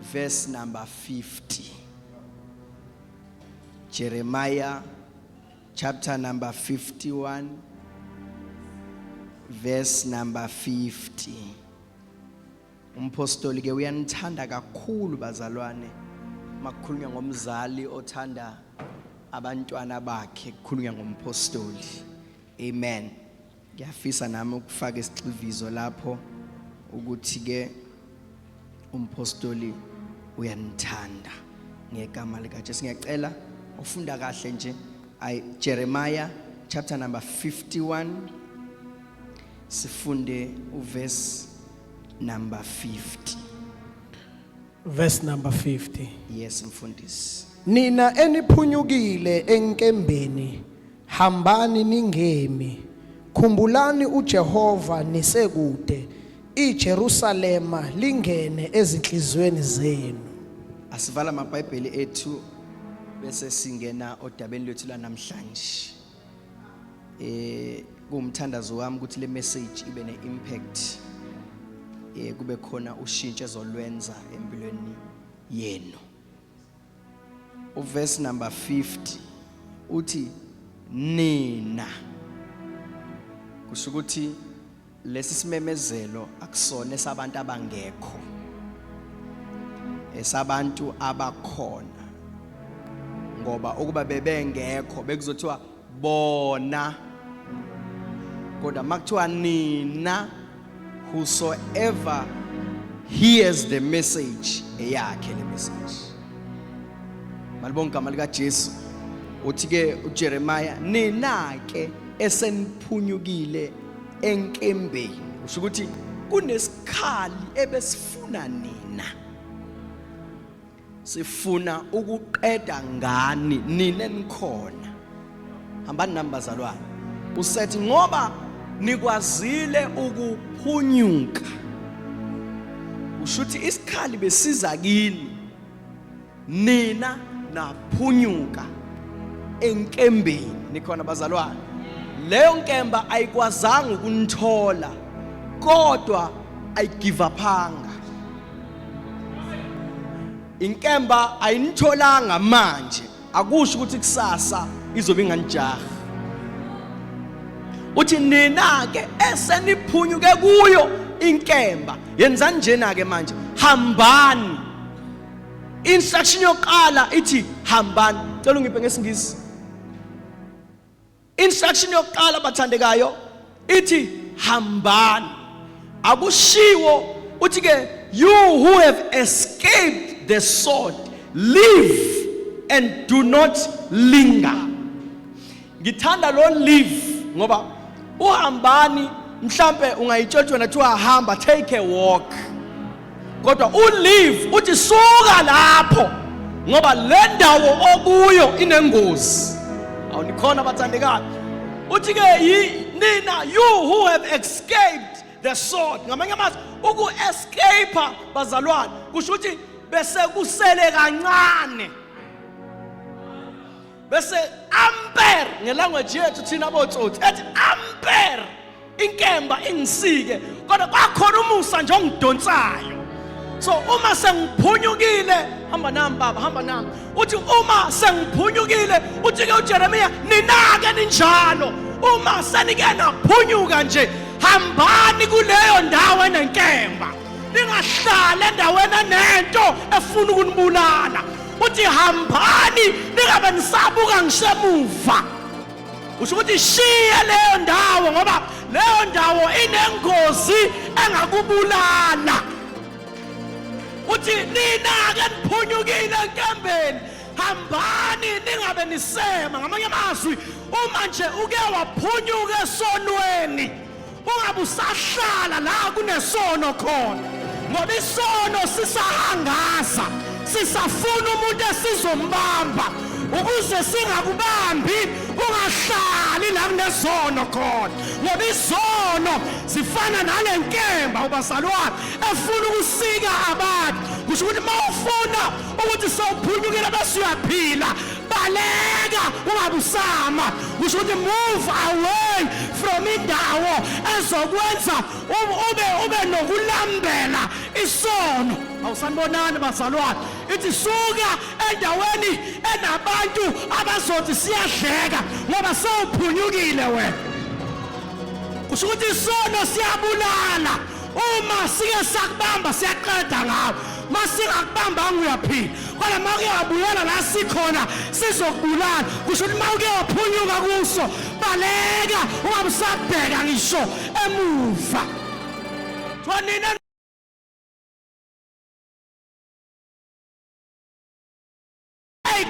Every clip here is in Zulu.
verse number 50. Jeremiah chapter number 51 verse number 50. Umpostoli ke uyanithanda kakhulu bazalwane. Makukhulunywa ngomzali othanda abantwana bakhe kukhulunywa ngompostoli. Amen. Ngiyafisa nami ukufaka isigxivizo lapho ukuthi ke umpostoli uyanithanda ngegama lika Jesu ngiyacela ufunda kahle nje ay Jeremiah chapter number 51 sifunde uverse number 50 verse number 50 yes mfundisi nina eniphunyukile enkembeni hambani ningemi khumbulani uJehova nisekude iJerusalema lingene ezinhlizweni zenu asivala amabhayibheli ethu bese singena odabeni lwethu lanamhlanje eh kumthandazo wami ukuthi le message ibe ne impact eh kube khona ushintsho ezolwenza empilweni yenu uverse number 50 uthi nina kusho ukuthi Lesi simemezelo akusona esabantu abangekho. Esabantu abakhona. Ngoba ukuba bebengekho bekuzothiwa bona kodwa makuthiwa nina whosoever hears the message eyakhe le message malibonga igama likaJesu uthi ke uJeremiah nina ke eseniphunyukile enkembeni usho ukuthi kunesikhali ebesifuna nina sifuna ukuqeda ngani nina enikhona hambani nami bazalwane usethi ngoba nikwazile ukuphunyuka ushuthi isikhali besiza kini nina naphunyuka enkembeni nikhona bazalwane leyo nkemba ayikwazanga ukunithola kodwa ayigive uphanga inkemba ayinitholanga manje akusho ukuthi kusasa izobe inganijaha uthi nina ke eseniphunyuke kuyo inkemba yenzani njena ke manje hambani Instruction yokuqala ithi hambani. Cela ungiphe ngesingisi. Instruction yokuqala bathandekayo ithi hambani. Akushiwo uthi ke you who have escaped the sword live and do not linger. Ngithanda lo live ngoba uhambani mhlambe ungayitshotshwa nathi uhamba take a walk. Kodwa u live uthi suka lapho ngoba le ndawo okuyo inengozi. Awunikhona bathandekayo. Uthi ke nina you who have escaped the sword ngamanye amazwi uku escape bazalwane kusho ukuthi bese kusele kancane bese amper ngelanguage yethu thina botsotsi ethi amper inkemba ingisike kodwa kwakhona umusa nje ongidonsayo so uma sengiphunyukile hamba nami baba hamba nami uthi uma sengiphunyukile uthi ke uJeremiya ninake ninjalo uma senike naphunyuka nje hambani kuleyo ndawo enenkemba ningahlali endaweni enento efuna ukunibulala uthi hambani ningabe nisabuka ngisemuva usho ukuthi shiye leyo ndawo ngoba leyo ndawo inengozi engakubulala uthi nina-ke niphunyukile enkembeni hambani ningabe nisema ngamanye amazwi uma nje uke waphunyuka esonweni Ungabe usahlala la kunesono khona ngoba isono sisahangaza sisafuna umuntu esizombamba ukuze singakubambi ungahlali la kunezono khona ngoba izono zifana nale nkemba ubazalwane efuna ukusika abantu kusho ukuthi uma ufuna ukuthi sewuphunyukile bese uyaphila baleka ungabusama kusho ukuthi move away from indawo ezokwenza ube ube nokulambela isono awusanibonani bazalwane ithi suka endaweni enabantu abazothi siyadleka ngoba sewuphunyukile wena kusho ukuthi isono siyabulala uma sike sakubamba siyaqeda ngawo masingakubambanga uyaphila kodwa uma uke wabuyela la sikhona sizokubulala kusho ukuthi uma uke waphunyuka kuso baleka ungabe usabheka ngisho emuva nina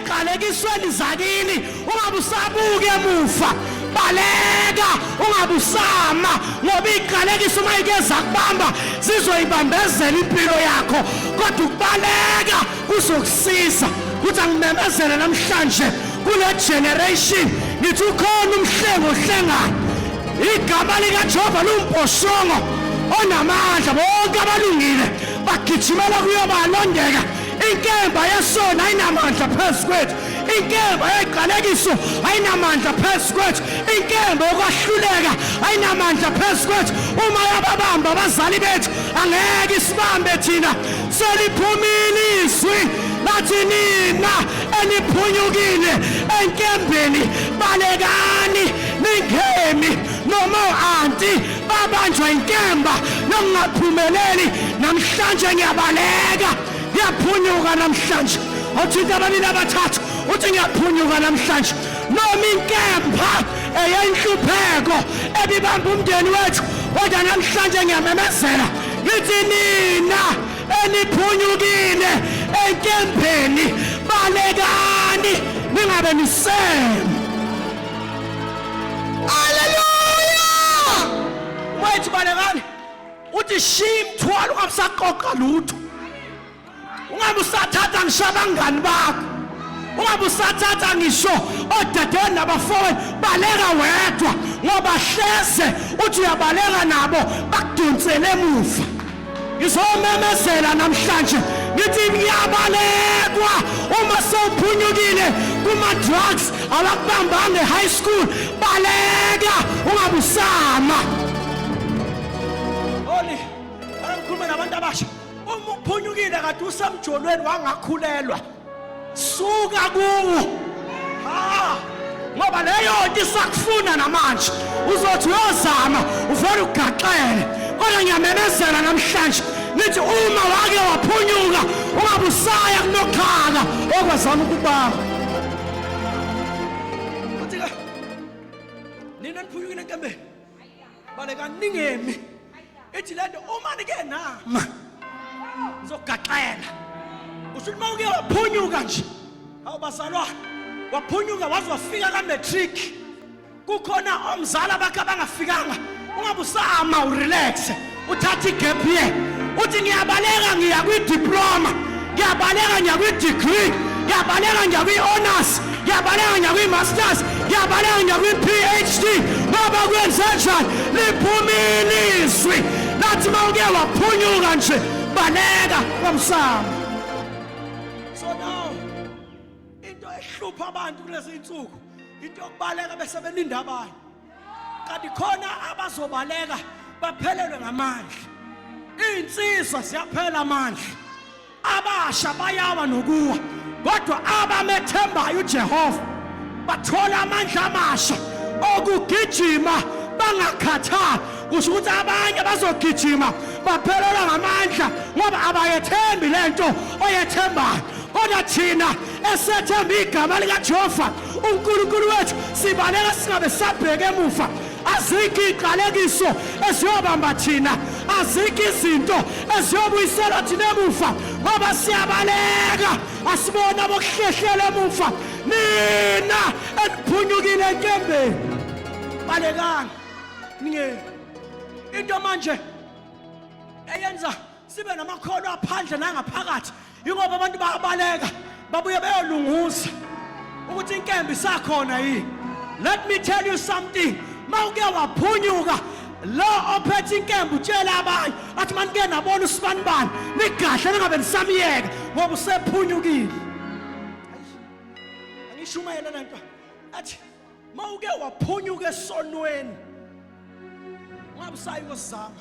eziqalekisweni zakini ungabe usabuke emuva baleka ungabe usama ngoba iqalekisa uma ike zakubamba zizoyibambezela impilo yakho kodwa ukubaleka kuzokusiza ukuthi angimemezele namhlanje kule generation ngithi ukhona umhlengo ohlengayo igama likajehova liwumboshongo onamandla bonke abalungile bagijimela kuyobalondeka inkemba yesona ayinamandla phezu kwethu inkemba yeqalekiso ayinamandla phezu kwethu inkemba yokwahluleka ayinamandla phezu kwethu uma yababamba abazali bethu angeke isibambe thina seliphumile izwi lathi nina eniphunyukile enkembeni balekani ningemi noma anti babanjwa inkemba nokungaphumeleli namhlanje ngiyabaleka ngiyaphunyuka namhlanje othinta abanini abathathu uthi ngiyaphunyuka namhlanje noma inkemba eyenhlupheko ebibamba umndeni wethu kodwa namhlanje ngiyamemezela ngithi nina eniphunyukile enkembeni balekani ningabe nisema Haleluya! Mfowethu balekani. Uthi shiya imthwalo ungamsaqoqa lutho. Ungabe usathatha ngisho abangani bakho. Ungabe usathatha ngisho odadewenu nabafowenu baleka wedwa ngoba hleze uthi uyabaleka nabo bakudonsele emuva. ngizomemezela namhlanje ngithi ngiyabalekwa uma sewuphunyukile kuma-drugs awakubambanga e-high school baleka ungabusama oli angikhulume nabantu abasha uma uphunyukile kade usemjolweni wangakhulelwa suka kuwo ngoba leyo nto isakufuna namanje uzothi uyozama uvele ugaxele kodwa ngiyamemezela namhlanje nithi uma wake waphunyuka ungabusaya kunokhala okwazama ukubamba baleka ningemi ithi lento uma nike nama ngizogaxela usho ukuthi uma uke waphunyuka nje awu bazalwane waphunyuka waze wafika ka-matric kukhona omzala bakhe abangafikanga ungabe usama urelaxe uthatha igap year uthi ngiyabaleka ngiya kwidiploma ngiyabaleka ngiya kwidegree ngiyabaleka ngiya kwi-honors ngiyabaleka ngiya kwi-masters ngiyabaleka ngiya kwi-phd baba kwenzenjani liphuma ilizwi lathi uma uke waphunyuka nje baleka kwamsamo so now into ehlupha abantu kulezi nsuku into yokubaleka bese beninda abanye kanti khona abazobaleka baphelelwe ngamandla iy'nsizwa ziyaphela amandla abasha bayawa nokuwa kodwa abamethembayo ujehova bathola amandla amasha okugijima bangakhathali kusho ukuthi abanye bazogijima baphelelwa ngamandla ngoba abayethembi le nto oyethembayo kodwa thina esethemba igama likajehova unkulunkulu wethu sibaleka singabe sabheke emuva azikho iy'qalekiso eziyobamba thina azikho izinto eziyobuyiselwa thina emuva ngoba siyabaleka asibona bokuhlehlela emuva nina eniphunyukile enkembeni balekani ningeni into manje eyenza sibe namakhono aphandle nangaphakathi yingoba abantu bayabaleka babuye beyolunguza ukuthi inkembe isakhona yini let me tell you something mawuke waphunyuka lo ophethe inkembe utshela abanye athi manike nabona usibani bani nigahle ningabe nisamyeka ngoba usephunyukile angishumayela lento athi mawuke waphunyuka esonweni ungabusayi kosizama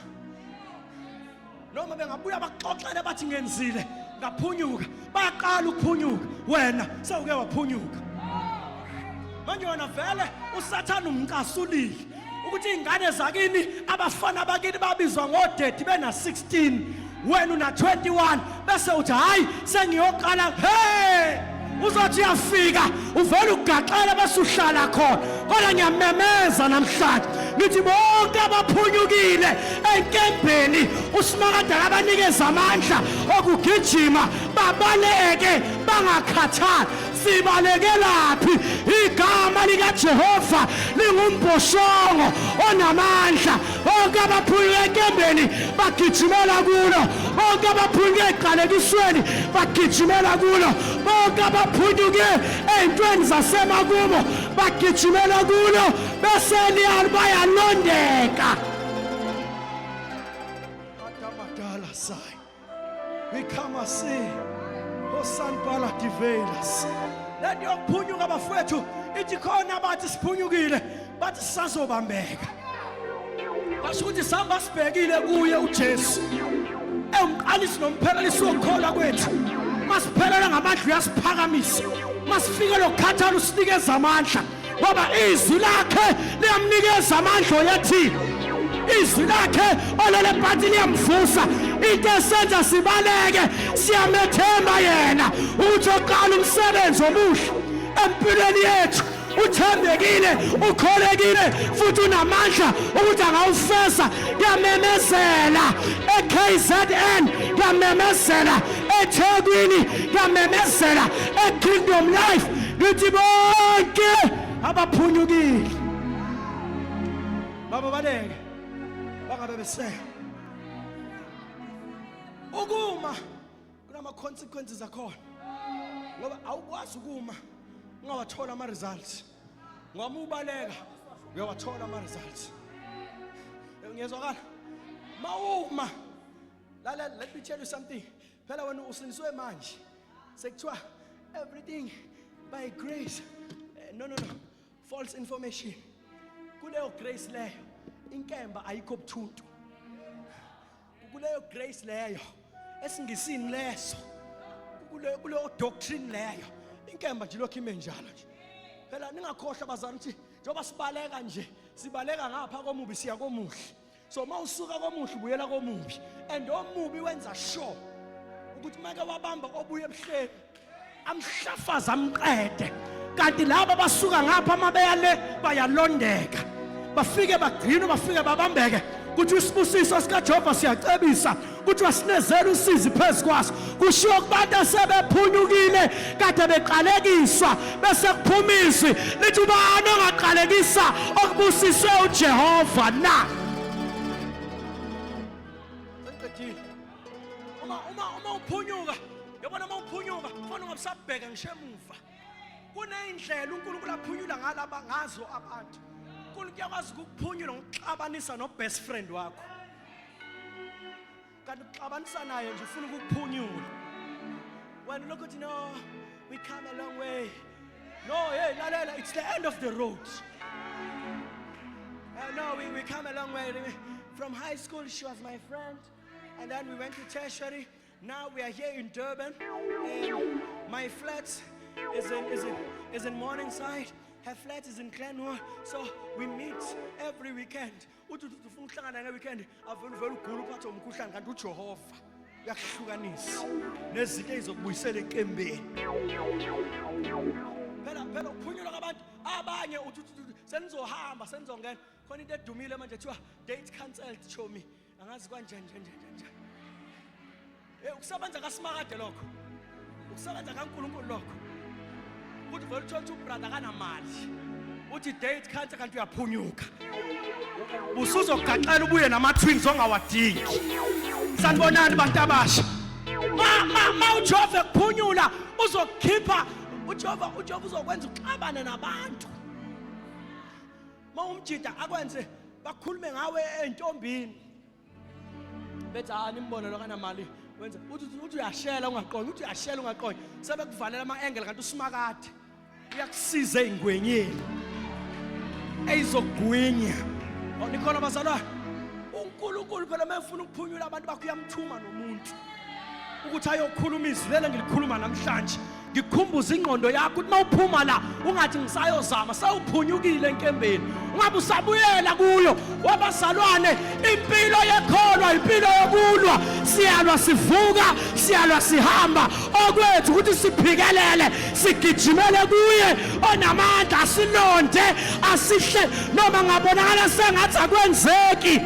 noma bengabuya baxoxele bathi ngenzile ngaphunyuka baqala ukuphunyuka wena sewuke waphunyuka manje wena vele usathane umcasulile ukuthi iy'ngane zakini abafana bakini babizwa ngodedi bena-16 wena una-21 bese uthi hhayi sengiyoqala he uzothi uyafika uvele ugaxele bese uhlala khona kodwa ngiyamemeza namhlanje ngithi bonke abaphunyukile enkembheni usimakade akabanikeza amandla okugijima babaleke bangakhathali sibalekelaphi igama likaJehova lingumbhoshongo onamandla bonke abaphulika enkembeni bagijimela kulo bonke abaphulika eziqalekisweni bagijimela kulo bonke abaphunyuke ey'ntweni zasemakubo bagijimela kulo bese liyalo bayalondeka Ikhama si osanibhala divelas. Lento yokuphunyuka bafowethu ithi khona abathi siphunyukile bathi sisazobambeka. Basho ukuthi sihamba sibhekile kuye uJesu. Ewumqalisi nomphelelisi wokukholwa kwethu. Masiphelela ngamandla uyasiphakamisa. Masifike lokukhathala usinikeza amandla. ngoba izwi lakhe liyamnikeza amandla oyethi izwi lakhe olele phansi liyamvusa into esenza sibaleke siyamethemba yena ukuthi oqala umsebenzi omuhle empilweni yethu uthembekile ukholekile futhi unamandla ukuthi angawufesa kuyamemezela e-kzn kuyamemezela ethekwini kuyamemezela e-kingdom life ngithi bonke abaphunyukile baba baleke bangabe besele ukuma kunama consequences akhona ngoba awukwazi ukuma ungawathola ama results ngoba ubaleka uyawathola ama results ngiyezwakala mawuma lalela let me tell you something phela wena usindiswe manje sekuthiwa everything by grace eh, no no no false information kuleyo grace leyo inkemba ayikho buthuntu kuleyo grace leyo esingisini leso kuleyo kuleyo doctrine leyo inkemba nje lokho ime njalo nje phela ningakhohlwa bazalwane ukuthi njengoba sibaleka nje sibaleka ngapha komubi siya komuhle so uma usuka komuhle ubuyela komubi and omubi wenza sure ukuthi make wabamba obuye ebuhleni amhlafaza amqede kanti laba abasuka ngapha uma beya le bayalondeka bafike bagcinwe bafike babambeke ukuthi isibusiso sikajehova siyacebisa kuthiwa sinezela usizi phezu kwaso kushiwo kubantu asebephunyukile kade beqalekiswa bese kuphuma izwi lithi ubani ongaqalekisa okubusiswe ujehova na uma uphunyuka yabona uma uphunyuka fona ungabusabheka ngisho emuva kuney'ndlela unkulunkulu aphunyula ngazo abantu unkulunkulu uyakwazi ukukuphunyula ngokuxabanisa no-best friend wakho kanti uxabanisa naye nje ufuna ukukuphunyula wena lokho uthi no we come a long way no hey lalela it's the end of the road uh, no we, we come a long way from high school she was my friend and then we went to tertiary now we are here in durban and my flat is in, is in, is in morningside her flat is in Glenwood, so we meet every weekend. uthi uthi ufuna ukuhlangana ngeweekend avele uvele ugula uphathe umkhuhlane kanti ujehova uyakuhlukanisa nezinto ey'zokubuyisela eqembeni phela phela ukuphunyulwa kwabantu abanye uthi uthi uthi senizohamba senizongena khona into edumile manje kuthiwa date cancelled chomi angazi kanje nje nje nje nje Eh ukusebenza kaSimakade lokho. Ukusebenza kaNkulunkulu lokho. Ukuthi vele uthola ukuthi ubrother kanamali. Uthi date cancer kanti uyaphunyuka. Usuzogaxela ubuye nama twins ongawadingi. Sanibonani bantu abasha. Ma ma ma uJehova kuphunyula uzokhipha uJehova uJehova uzokwenza uxabane nabantu. Mawumjida akwenze bakhulume ngawe entombini. bethi hayi nimbone lo kanamali wenza uthi uthi uyashela ungaqondi uthi uyashela ungaqondi sebekuvalela ama angle kanti usimakade uyakusiza ezingwenyeni eyizogwinya oh, nikhona bazalwane uNkulunkulu phela mayefuna ukuphunyula abantu bakho uyamthuma nomuntu ukuthi ayokhuluma izwi lelo ngilikhuluma namhlanje ngikhumbuza ingqondo yakho ukuthi mawuphuma la ungathi ngisayozama sawuphunyukile enkembeni ungabe usabuyela kuyo wabazalwane impilo yekholwa impilo yokulwa siyalwa sivuka siyalwa sihamba okwethu ukuthi siphikelele sigijimele kuye onamandla asilonde asihle noma ngabonakala sengathi akwenzeki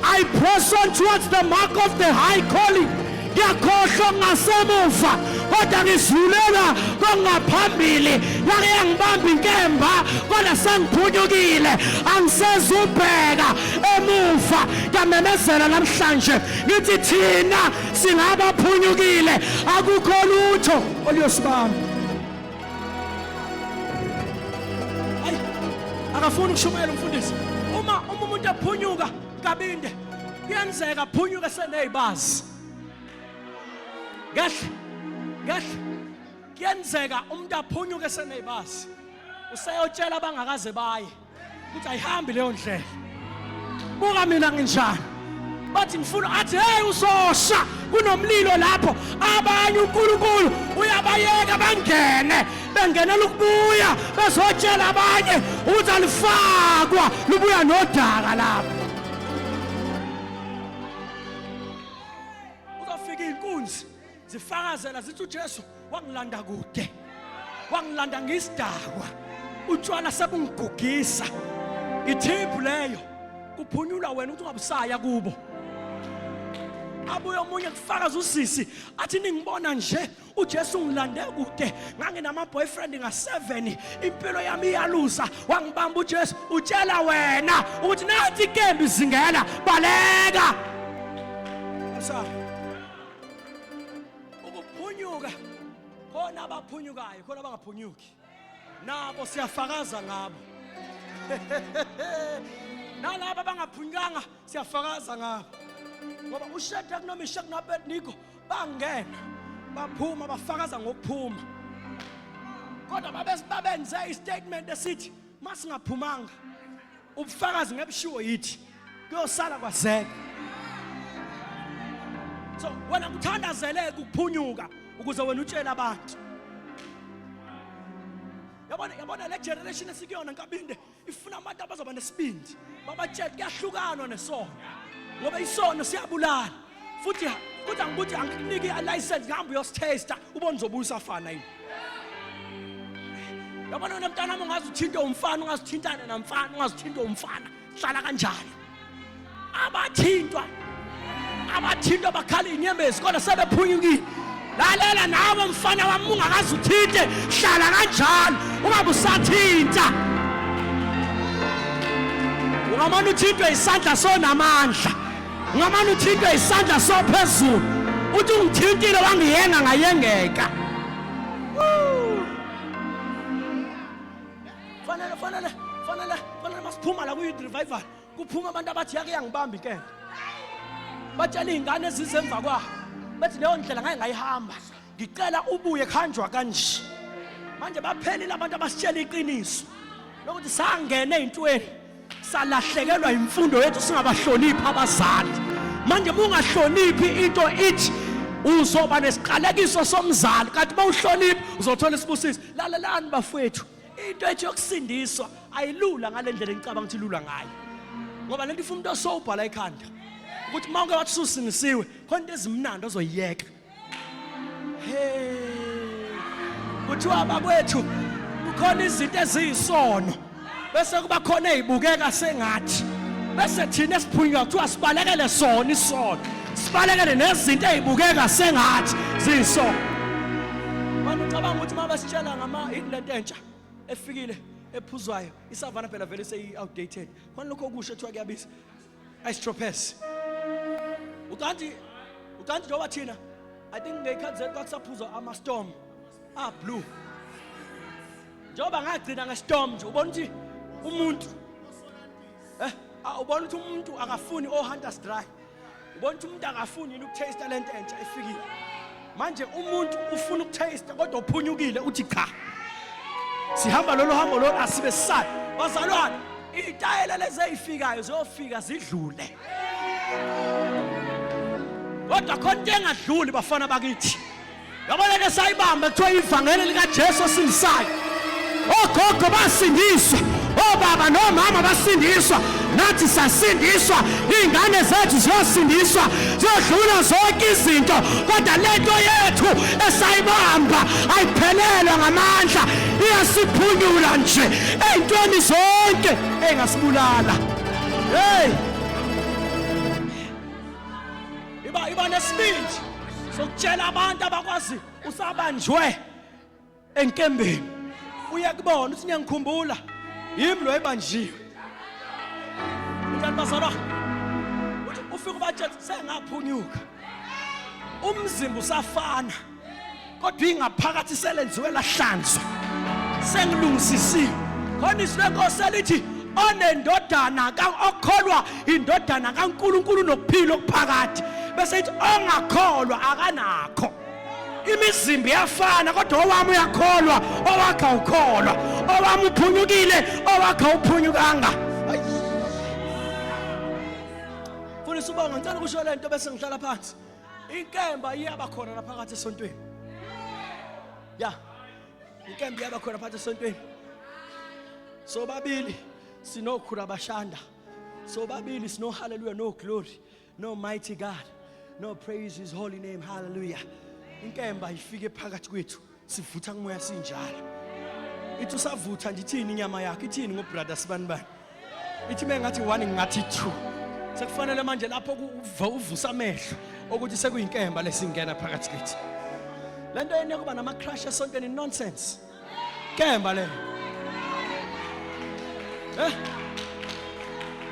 I press on towards the mark of the high calling ngiyakhohlwa ngasemuva kodwa ngizulelwa kongaphambili lake yangibamba inkemba kodwa sengiphunyukile angisezubheka emuva ngiyamemezela namhlanje ngithi thina singabaphunyukile akukho lutho oluyosibamba Ayi akafuni ukushumayela umfundisi. Uma uma umuntu ephunyuka kabinde kuyenzeka aphunyuke senezibazi. Kahle. Kahle. Kuyenzeka umuntu aphunyuke senezibazi. Useyotshela abangakaze baye. ukuthi ayihambi leyo ndlela buka mina nginjani bathi ngifuna athi hey usosha kunomlilo lapho abanye uNkulunkulu uyabayeka bangene bengenela ukubuya bezotshela abanye ukuthi alifakwa lubuya nodaka lapho zifakazela zithi uJesu wangilanda kude wangilanda ngisidakwa utshwala sebungigugisa ithiphu leyo kuphunyulwa wena ukuthi ungabusaya kubo abuye omunye kufakaza usisi athi ningibona nje uJesu ngilande kude nganginama boyfriend nga7 impilo yami iyaluza wangibamba uJesu utshela wena ukuthi nathi kembi zingela baleka Msa ukuphunyuka khona abaphunyukayo khona abangaphunyuki nabo siyafakaza ngabo nalabo abangaphunyukanga siyafakaza ngabo ngoba usheda kunomishek noabednigo bangena baphuma bafakaza ngokuphuma kodwa babenze istatement esithi masingaphumanga ubufakazi ngebushiwo yithi kuyosala kwazeka so wena kuthandazeleke ukuphunyuka ukuze wena utshele abantu yabona yabona le generation esikuyona nkabinde ifuna abantu abazoba nesibindi babatshele kuyahlukanwa nesono ngoba isono siyabulala futhi futhi angikuthi angikuniki license ngihamba uyositesta ubone uzobuya usafana yini yabona wena mntana wami ungaze uthinte umfana ungaze uthintane namfana ungaze uthinte umfana hlala kanjalo abathintwa abathintwa bakhala inyembezi kodwa sebephunyukile lalela nawe mfana wami ungakaze uthinte hlala kanjalo ungabe usathinta ungamane uthintwe isandla sonamandla Ungamane uthinte isandla sophezulu. Uthi ungithintile wangiyenga ngayengeka. Fanele fanele fanele fanele masiphuma la kuyi revival. Kuphuma abantu abathi yake yangibamba inkemba. Batshela izingane ezizemva kwabo. Bathi leyo ndlela ngeke ngayihamba. ngicela ubuye kuhanjwa kanje manje baphelile abantu abasitshela iqiniso lokuthi sangena ey'ntweni salahlekelwa yimfundo yethu singabahloniphi abazali manje mungahloniphi into ithi uzoba nesiqalekiso somzali kanti uma uhloniphi uzothola isibusiso lalelani bafowethu into ethi yokusindiswa ayilula ngale ndlela engicabanga ukuthi ilula ngayo ngoba lento ifuna umuntu osowubhala ikhanda ukuthi uma uke wathi susindisiwe khona into ezimnandi ozoyiyeka kuthiwa bakwethu kukhona izinto eziyisono bese kuba khona ezibukeka sengathi bese thina esiphunywa kuthiwa sibalekele sona isono sibalekele nezinto ezibukeka sengathi ziyisono manje ucabanga ukuthi uma besitshela ngama yini lento entsha efikile ephuzwayo isavana phela vele seyi outdated khona lokho okusho kuthiwa kuyabiza I stropes. Utanti utanti njengoba thina I think ngeyikhathi kwakusaphuzwa ama storm ah blue. Njengoba ngagcina nge storm nje ubona ukuthi umuntu eh ah, ubona ukuthi umuntu akafuni o oh, hunters dry. Ubona ukuthi umuntu akafuni yini ukutaste lento entsha ifikile. manje umuntu ufuna ukutaste kodwa uphunyukile uthi cha sihamba lolu hambo lolu asibe sisale bazalwane iy'tayela lezi ey'fikayo ziyofika zidlule kodwa khona into engadluli bafana bakithi yabona ke sayibamba kuthiwa ivangeli likajesu osilisayo ogogo basindiswa obaba nomama basindiswa nathi sasindiswa iy'ngane zethu ziyosindiswa ziyodlula zonke izinto kodwa le nto yethu esayibamba ayiphelelwe ngamandla iyasiphunyula nje ey'ntweni zonke ey'ngasibulala heyi iba iba nesibindi sokutshela abantu abakwazi usabanjwe enkembeni uyakubona uthi ngiyangikhumbula yimi lo ebanjiwe kanti bazalwa uthi ufika ubatshela sengaphunyuka umzimba usafana kodwa ingaphakathi selenziwe lahlanzwa sengilungisisiwe khona izwi lenkosi elithi onendodana okholwa indodana kaNkuluNkulu nokuphila okuphakathi bese ithi ongakholwa akanakho imizimba iyafana kodwa owami uyakholwa owakha ukholwa owami uphunyukile owakha uphunyukanga funa isibongo ngicela ukusho le nto bese ngihlala phansi inkemba iyaba khona lapha phakathi esontweni ya inkemba iyaba khona phakathi esontweni sobabili sinokhura bashanda sobabili sinohaleluya no glory No mighty God. No praise his holy name. Hallelujah. Inkemba ifike phakathi kwethu. Sivutha kumoya sinjalo. Ithi usavutha nje ithini inyama yakhe? Ithini ngo brother sibani bani? Ithi mengathi one ngathi two. Sekufanele manje lapho uvusa amehlo ukuthi sekuyinkemba lesingena phakathi kwethu. Lento yenu yokuba nama crush esontweni nonsense. kemba le eh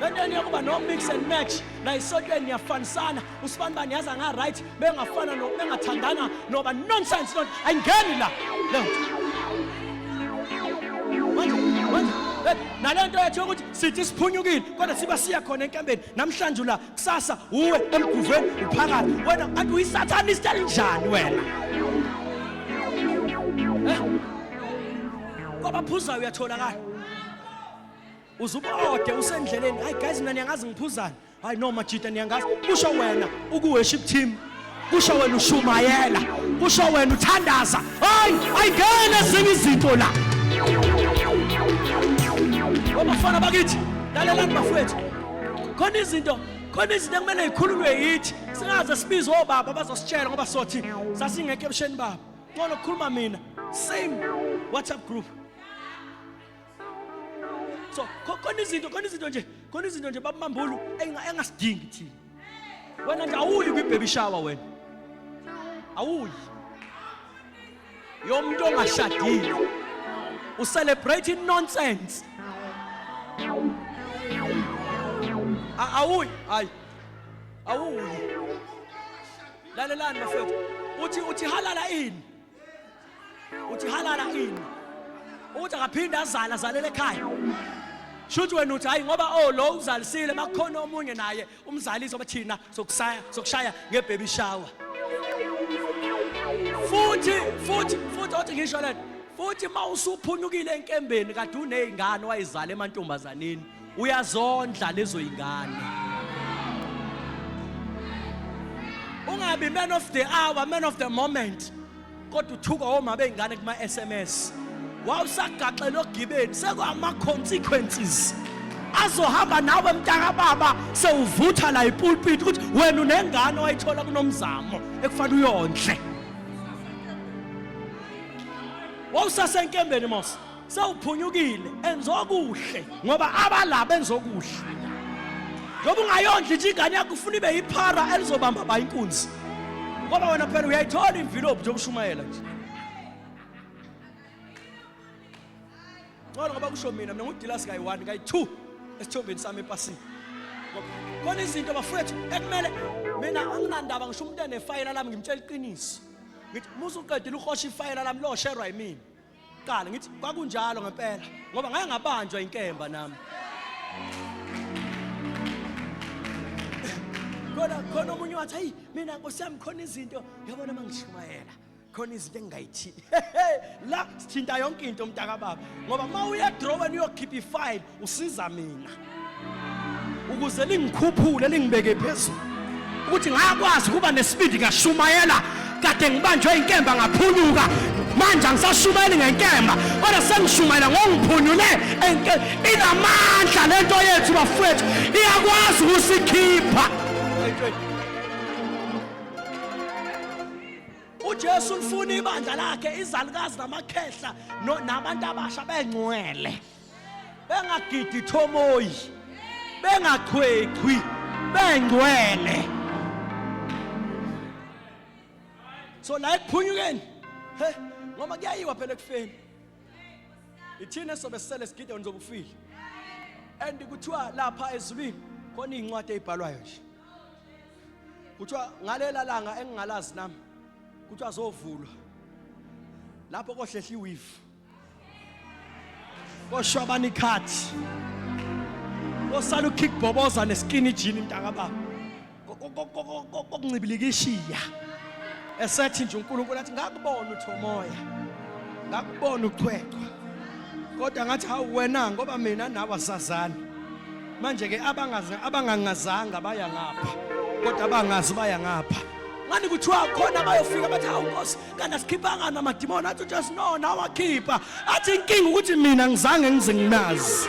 lento niyokuba no mix and match la isotweni niyafanisana usibani bani yaza nga right bengafana no bengathandana noba nonsense lento ayingeni la lento nalento yethu yokuthi sithi siphunyukile kodwa siba siya khona enkambeni namhlanje la kusasa uwe emguveni uphakathi wena anti uyisatanist elinjani wena eh? kwabaphuzayo uyatholakala uzubode usendleleni hayi guys mina niyangazi ngiphuzani hayi no majita niyangazi kusho wena ukuworship team kusho wena ushumayela kusho wena uthandaza hayi ayingene ezinye izinto la obafana bakithi lalelani bafowethu khona izinto khona izinto ekumele zikhululwe yithi singaze sibize obaba bazositshela ngoba sothi sasingekho ebusheni babo ngcono kukhuluma mina same whatsapp group so khona izinto khona izinto nje khona izinto nje babambulu engasidingi thina wena nje awuyi kwi-baby shower wena awuyi yomuntu ongashadile ucelebrate inonsense awuyi hayi awuyi lalelani bafethu uthi uthi halala ini uthi halala ini uthi akaphinde azala azalele ekhaya shuthi wena uthi hayi ngoba oh lo uzalisile makukhona omunye naye umzalisi obathina sokusaya sokushaya ngebaby shower futhi futhi futhi othi ngisho lento futhi mawusuphunukile enkembeni kade unezingane wayizala emantombazaneni uyazondla lezo ingane ungabi man of the hour man of the moment kodwa uthuka woma beyingane kuma SMS wawusagaxela ogibeni sekwama consequences azohamba nawe mntaka baba sewuvutha la ipulpit ukuthi wena unengane wayithola kunomzamo ekufanele uyondle wawusasenkembeni mos sewuphunyukile enza okuhle ngoba abala benza okuhle ngoba ungayondli nje ingane yakho ufuna ibe yiphara elizobamba ba inkunzi ngoba wena phela uyayithola imvilophi yokushumayela nje ngcono ngoba kusho mina mina ngudilasi kayi-one kayi-two esithombeni sami epasini khona izinto bafowethu ekumele mina anginandaba ngisho umuntu enefayela lami ngimtshela iqiniso ngithi musuqedile uhosha ifayela lami losherwa yimina Qala ngithi kwakunjalo ngempela ngoba ngake ngabanjwa inkemba nami. Kodwa khona omunye wathi hayi mina Nkosi yami khona izinto yabona mangishumayela khona izinto engingayithini la sithinta yonke into umntaka baba ngoba uma uya drawer uyokhipha ifile usiza mina ukuze lingikhuphule lingibeke phezulu ukuthi ngakwazi ukuba nesibindi ngashumayela kade ngibanjwe inkemba ngaphunyuka manje angisashumayeli ngenkemba kodwa sengishumayela ngongiphunyule inamandla le nto yethu bafowethu iyakwazi ukusikhipha ujesu ulifuna ibandla lakhe izalukazi namakhehla nabantu abasha bengcwele bengagidi thomoyi bengachwechwi bengcwele so la ekuphunyukeni he ngoba kuyayiwa phela ekufeni ithina sobe sisele sigide nizobe ufile and kuthiwa lapha ezulwini khona izincwadi ezibhalwayo nje kuthiwa ngalela langa engingalazi nami kuthiwa zovulwa lapho kohlehla iwivu koshwa abanikhathi osala ukhikboboza neskini jini mntaka baba kokuncibilikishiya esethi nje uNkulunkulu athi ngakubona uthomoya ngakubona uchwechwa kodwa ngathi hawu wena ngoba mina nawe asazani manje ke abangazi abangangazanga baya ngapha kodwa abangazi baya ngapha ngani kuthiwa khona bayofika bathi hawu nkosi kanti asikhiphanga namadimoni athi ujesu no nawe wakhipha athi inkinga ukuthi mina ngizange ngize ngimazi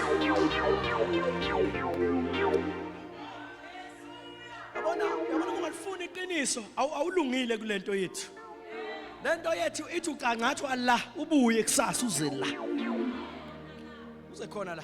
yabona yabona ungalifuni iqiniso awulungile kule nto yethu le nto yethu ithi ucangathi allah ubuye kusasa uze la uze khona la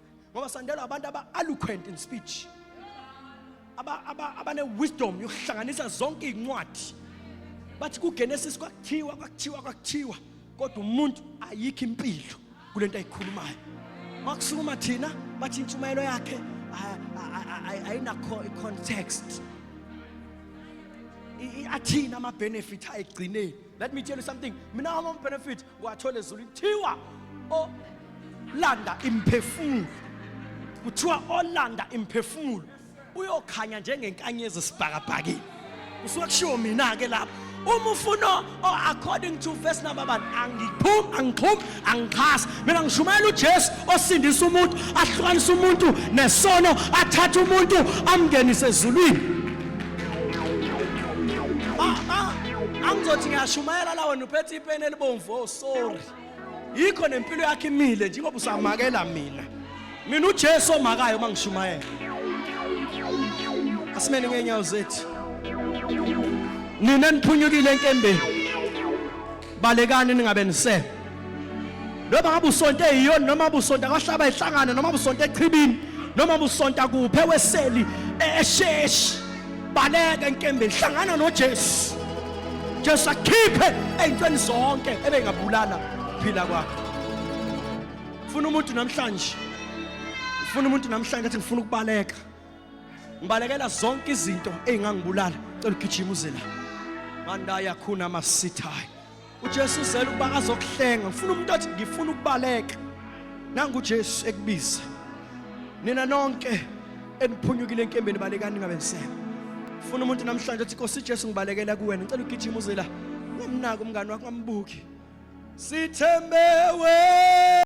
ngoba sandelwa abantu aba-eloquent in speech abane-wisdom yokuhlanganisa zonke iy'ncwadi bathi kugenesis kwakuthiwa kwakuthiwa kwakuthiwa kodwa umuntu ayikho impilo kule nto ayikhulumayo makusukuma thina bathi intshumayelo yakhe ayinakho i-context athini ama-benefit ayigcineni Let me tell you something. Mina hama benefit wathola ezulu kuthiwa o landa imphefumulo. Kuthiwa olanda imphefumulo uyokhanya njengenkanyezi esibhakabhakile. Usuke kushiwo mina ke lapho. Uma ufuna according to verse number 1 angiphumi angiphumi angixhasi mina ngishumayela uJesu osindisa umuntu ahlukanisa umuntu nesono athatha umuntu amngenise ezulwini ah, ah, angizothi ngiyashumayela la wena uphethe ipeni elibomvu oh sorry yikho nempilo yakhe imile njengoba usamakela mina mina uJesu omakayo uma ngishumayela asimeni ngeenyawo zethu nina niphunyukile enkembeni balekani ningabe nise noma ngabe usonto eyiyona noma busonto akashaba ehlangana noma busonto echibini noma busonto kuphe weseli esheshi baleke enkembeni hlangana noJesu Jesu akhiphe ezintweni zonke ebengabulala phila kwakho ufuna umuntu namhlanje ufuna umuntu namhlanje athi ngifuna ukubaleka ngibalekela zonke izinto ezingangibulala cela ugijima uze la mandaya khuna masithayi uJesu uzela ukuba azokuhlenga ngifuna umuntu athi ngifuna ukubaleka nangu uJesu ekubiza nina nonke eniphunyukile enkembeni balekani ngabensema funa umuntu namhlanje athi Nkosi Jesu ngibalekela kuwena ngicela ugijima uze la ungamnaki umngani wakho ngambuki sithembe wena